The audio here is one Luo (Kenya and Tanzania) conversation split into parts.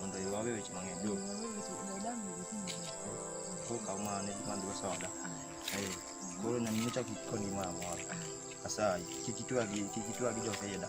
mondo iwawe weche mang'eny jo koro kaw mano ne madhigo soda Eh, koro nanyini chak ikoni gimoro amora asayi kik itwagi kik itwagi joseyeda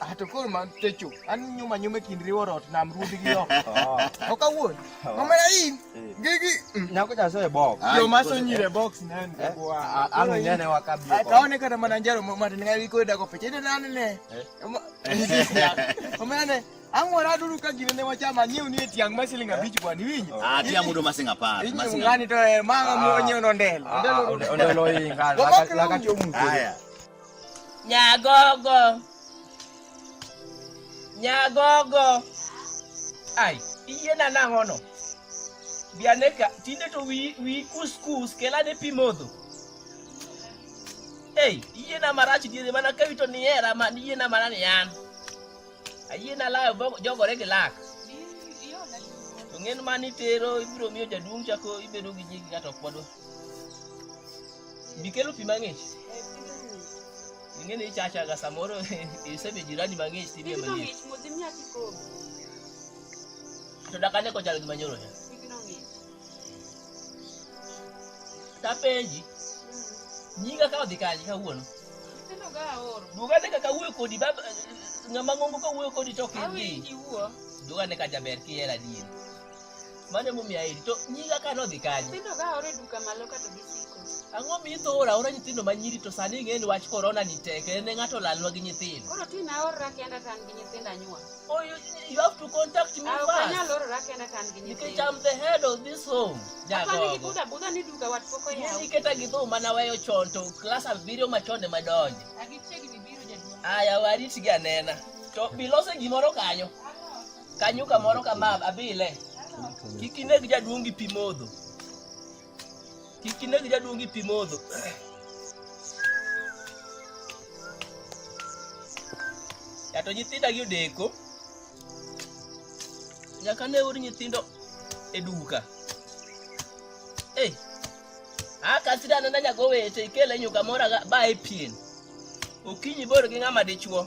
Ah, to koro man techo an nyuma nyuma e kind riwo rot nam ruodhi gi oko to kawuon omera in gigi mm. nyako cha soe box yo maso nyire box nen eh? kwa an nyane wakabi ah, kaone kata mana njaro matin ngai ko dago peche ne nane ne eh? omera ne ang'ora duru ka gine ne wachama nyiew ni tiang' ma siling abich kwa ni winyo ah tiang' mudo masing apar masing ngani to eh, manga mo ah. nyiew no ndel ah, ndel lo inga la ka la ka chomu haya Nyagogo. Nyagogo. Ai, iyiena nang'ono. Biane ka, tinde to wi, wi kus kus, kelane pi modho. Ei, iyiena marach diere mana ka wito ni era man, iyiena mana ni an. Ayiena layo bogo- jogore gi lak. To ng'en mani tero, ibiro miyo jaduong' chako ibedo gi nyingi kata ok wadwa. Bikelo pi mang'ich. Ing'eni ichachaga samoro isebe jirani mang'ich tinie mang'ich. To dakane kochal gi manyoro ya. Tapenji, nyinga ka odhi kanye kawuono? Dwogane ka kawuoyo kodi bab ng'ama ng'ongo kawuoyo kodi to ok idhi. Dwogane ka jaber kihera dien. mano emomiyo aheri to nyinga ka nodhi kanye Nyithindo ka oro e duka malo kato gisiko. ang'o mi itho ora ora nyithindo ma nyiri to sani ing'e ni wach korona ni tek en e ng'ato olalwa gi nyithindo Koro tin aorora kenda ka an gi nyithindo anyuol. oh, you, you have to contact me Ah, ok anyal first orora kenda ka an gi nikech nyithindo. I'm the head of this home Apani gi nyagogo buda buda ni duka wat pok Yie oyaw. niketa gi dhou mana weyo chon to klas abiriyo machon ema donje Agichiegni biro jaduong'. aya waritgi anena to bilose gimoro kanyo kanyuka moro kama abile kik ineg jaduong' gi pi modho kik ineg jaduong' gi pi modho yato nyithinda gi odeko nyaka ne ur nyithindo e duka hey. akasira nana nyaka owete ikele nyuka moro ba e pien okinyi bor gi ng'ama dichuo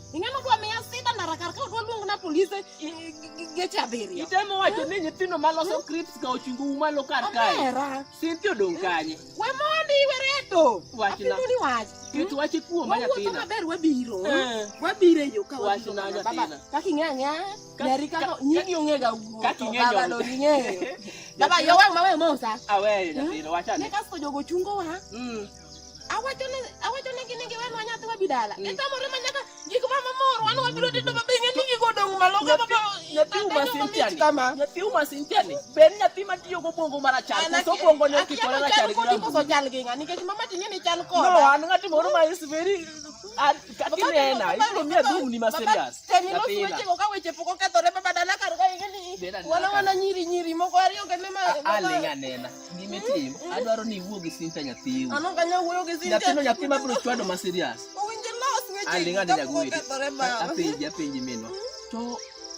Ing'ano dwa miya sida na rakar ka odwa luong na polise geche abiriyo. Itemo wacho ni nyithindo ma loso crips ka ochungo u malo kar kae. Abera. Sinti odong kanye. We mondi we reto. Wachna. Apimoni wach. Ket wache kuom ma nyathina. Wawuotho maber wabiro. Eh. Wabiro e yo ka wabiro. Wachna nyathina. Kaka ing'e ang'e. Nyari kaka nyigi ong'e ga wuo. Kaka ing'e nyoro. Baba lo ing'eyo. Baba yo wang' ma we mosa. Aweyo nyathina wachane. Ne kasto jogo chungo wa. Mm. awachonegi ni giwenwa nyathi wabi dala mm. itamore ma nyaka gik ma mamor wan wabiro tedo mabe ing'e ni gigo odong' malo nyathi umasintiani ber nyathi matiyo gobwongo marachar koso obwongone okikore rachar koso chal gi ng'a nikech mama tinye ni chal koda no an ng'ati moro ma is very katinena ibiro miya dhumni ma serious teminoswechego ka weche pok okethore baba dala kar ka ing'e ni wana wana nyiri nyiri moko ariyo kende ma aling'anena Gima itimo, adwaro ni iwuo gi Sinta nyathiu. An ok anyal wuoyo gi Sinta. Nyathino nyathi ma biro chwado ma serious. Owinjo los weche. Aling' adi nyagwedi. Apenji apenji minwa. To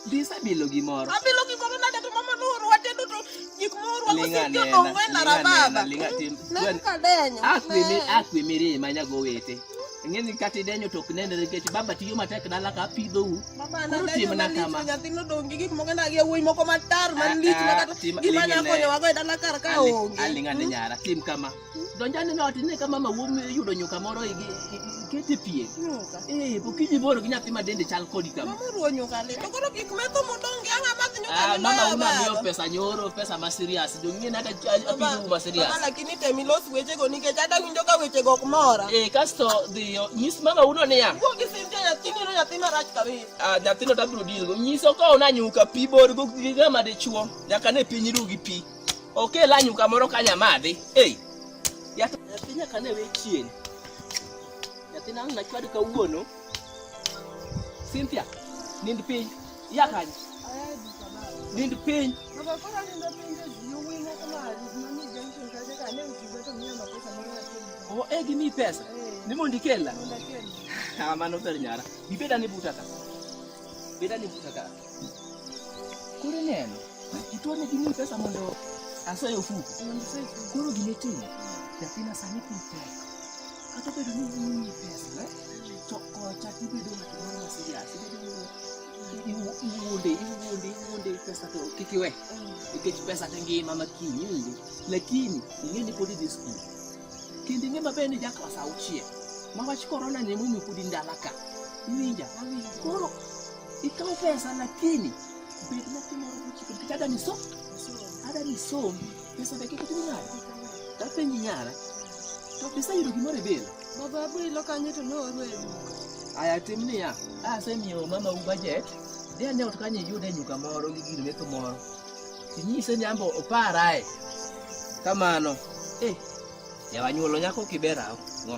dis abilo gimoro. Abilo gimoro nade to mama nooro wate duto gik mooro wago sinjo ong'wena rababa. Ling'a tim. Neka denyo. Akwe mi akwe mirima nyago wete. Ng'eni kati denyo to ok nenre nikech baba tiyo matek dala ka apidhou. Timo na kama. Nyathino dong' gi gik moko nagi yawuoyi moko matar man lich ma kata gima nya konyowago e dala kar ka onge. Aling' ane nyara, tim kama. Donj ane no ot ine ka mama wuom yudo nyuka moro ikete pien. Nyuka. Eh, okinyi boro gi nyathi ma dende chal kodi kama. Mama ruwo nyuka le. To koro gik metho modong' gi ang'a madh nyuka Ah, ni mama una miyo baba. pesa nyoro, pesa ma serious. Dong'ien hata apiju ma serious. Baba, lakini tem ilos wechego nikech adawinjo ka wechego ok mora. Eh, kasto dhiyo, nyis mama uno niya. Wuo gi Ah, nyathino tabiro dilgo nyiso ka ona nyuka pi borgo gigama dichuo nyaka ne piny ru gi pi okela nyuka moro ka nyamadhi ei nyathi nyaka ne we chien nyathina ang nachwad kawuono Cynthia nind piny Yakaje. Nind piny. Oh, eh gimi pesa. Ni mondi kella. Ah, mano ber nyara. Bibeda ni buta ka. Bibeda ni buta ka. Kuri neno. Itone gimi pesa mondo asoyo fuku. Kuru gimi timo. Nyathina sani piny pesa. Kata bedo ni imiyi pesa, to kocha ibedo ng'at moro ma serious, ibedo iwuonde iwuonde iwuonde pesa to kik iwe nikech pesa to ngima makiny iwinjo lakini ing'e ni pod idhi skul kendo ing'e maber ni ja klas auchiel ma wach korona ni emomiyo pod in dala ka iwinja koro ikaw pesa lakini bed nyathi moro mochikore nikech ada ni som ada ni som Pesa be kik timi nade? Tapenji nyara. To pesa yudo gimoro e bil. Baba abilo kanyo to nooru e bil. Aya tim niya, asemiyo mama u budget. Dhi ane ot kanyo iyud e nyuka moro gi gir metho moro. Inyise ni ambo oparae. Kamano. Eh, yawa nyuolo nyako kibera. Ngo.